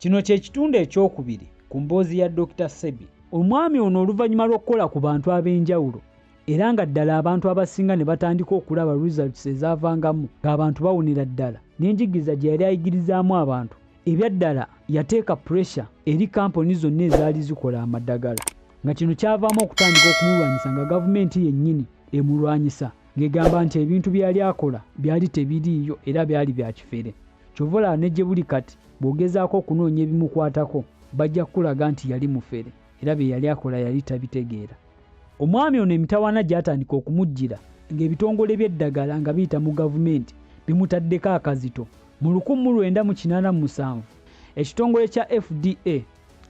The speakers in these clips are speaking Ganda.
Kino kye kitundu ekyokubiri ku mboozi ya Dokita Ssebi. Omwami ono oluvannyuma lw'okukola ku bantu ab'enjawulo era nga ddala abantu abasinga ne batandika okulaba results ezaavangamu ng'abantu bawonera ddala n'enjigiriza gye yali ayigirizaamu abantu, ebya ddala yateeka puresha eri kkampuni zonna ezaali zikola amadagala nga kino kyavaamu okutandika okumulwanyisa nga gavumenti yennyini emulwanyisa ng'egamba nti ebintu bye yali akola byali tebiriiyo era byali bya kifere. kyova olaba ne gye buli kati bw'ogezaako okunoonya ebimukwatako bajja kukulaga nti yali mufere era bye yali akola yali tabitegeera omwami ono emitawaana gyatandika okumujjira ng'ebitongole by'eddagala nga biyita mu gavumenti bimutaddeko akazito mu 1987 ekitongole kya fda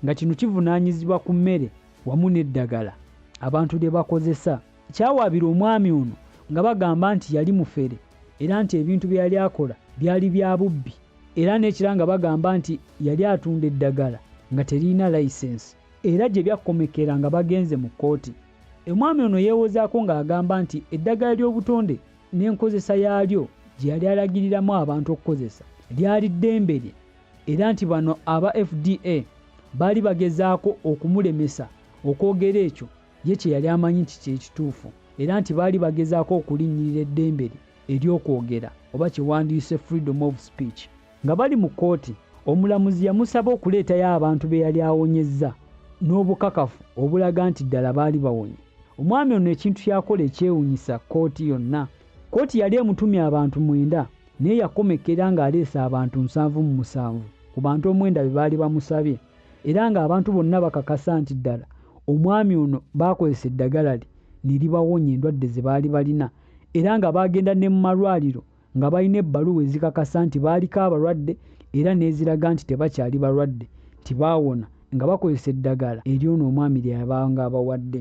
nga kino kivunaanyizibwa ku mmere wamu n'eddagala abantu lye bakozesa Kyawaabira omwami ono nga bagamba nti yali mufere era nti ebintu bye yali akola byali bya bubbi era n'ekira nga bagamba nti yali atunda eddagala nga teririna layisensi era gye byakkomekera nga bagenze mu kkooti. Omwami ono yeewozaako ng'agamba nti eddagala ly'obutonde n'enkozesa yaalyo gye yali alagiriramu abantu okukozesa lyali ddembe lye era nti bano aba FDA baali bagezaako okumulemesa okwogera ekyo Ye kye yali amanyi nti kye kituufu era nti baali bagezaako okulinnyirira eddembe lye ery'okwogera oba kye wandiyise freedom of speech. Nga bali mu kkooti, omulamuzi yamusaba okuleetayo abantu be yali awonyezza n'obukakafu obulaga nti ddala baali bawonye. Omwami ono ekintu ky'akola ekyewunyisa kkooti yonna, kkooti yali emutumye abantu mwenda naye yakomekkerera ng'aleese abantu nsanvu mu musanvu ku bantu omwenda be baali bamusabye. era ng'abantu bonna bakakasa nti ddala omwami ono baakozesa eddagala lye ne libawonya endwadde ze baali balina era nga baagenda ne mu malwaliro nga balina ebbaluwa ezikakasa nti baaliko abalwadde era n'eziraga nti tebakyali balwadde nti baawona nga bakozesa eddagala ery'ono omwami lye yabanga abawadde.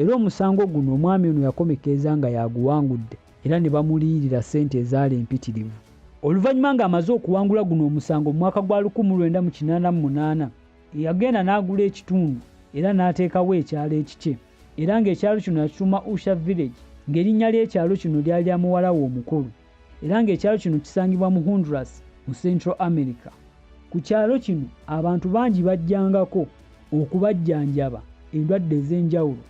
Era omusango guno omwami ono yakomekkereza nga y'aguwangudde era ne bamuliyirira ssente ezaali mpitirivu. Oluvannyuma ng'amaze okuwangula guno omusango mu mwaka gwa lukumu lwenda mu kinaana mu munaana, yagenda n'agula ekitundu era n'ateekawo ekyalo ekikye era ng'ekyalo kino yakituuma Usha Village ng'erinnya ly'ekyalo kino lyali lya muwala we omukulu. era ng'ekyalo kino kisangibwa mu Honduras mu Central America. Ku kyalo kino abantu bangi bajjangako okubajjanjaba endwadde ez'enjawulo.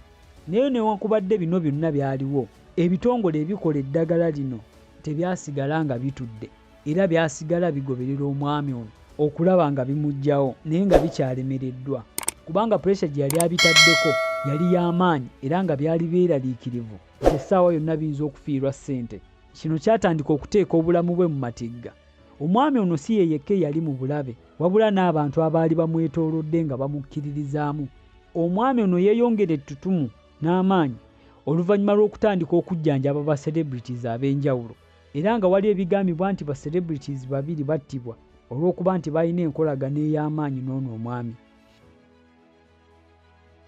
Naye newankubadde bino byonna byaliwo, ebitongole ebikola eddagala lino tebyasigala nga bitudde era byasigala bigoberera omwami ono okulaba nga bimuggyawo naye nga bikyalemereddwa kubanga puresha gye yali abitaddeko yali ya maanyi era nga byali byeraliikirivu. nti essaawa yonna biyinza okufiirwa ssente. Kino kyatandika okuteeka obulamu bwe mu matigga. Omwami ono si ye yekka eyali mu bulabe wabula n'abantu abaali bamwetoolodde nga bamukkiririzaamu. Omwami ono yeeyongera ettutumu n'amaanyi oluvannyuma lw'okutandika okujjanjaba ba celebrities ab'enjawulo era nga wali ebigambibwa nti ba celebrities babiri battibwa olw'okuba nti balina enkolagana ey'amaanyi n'ono omwami.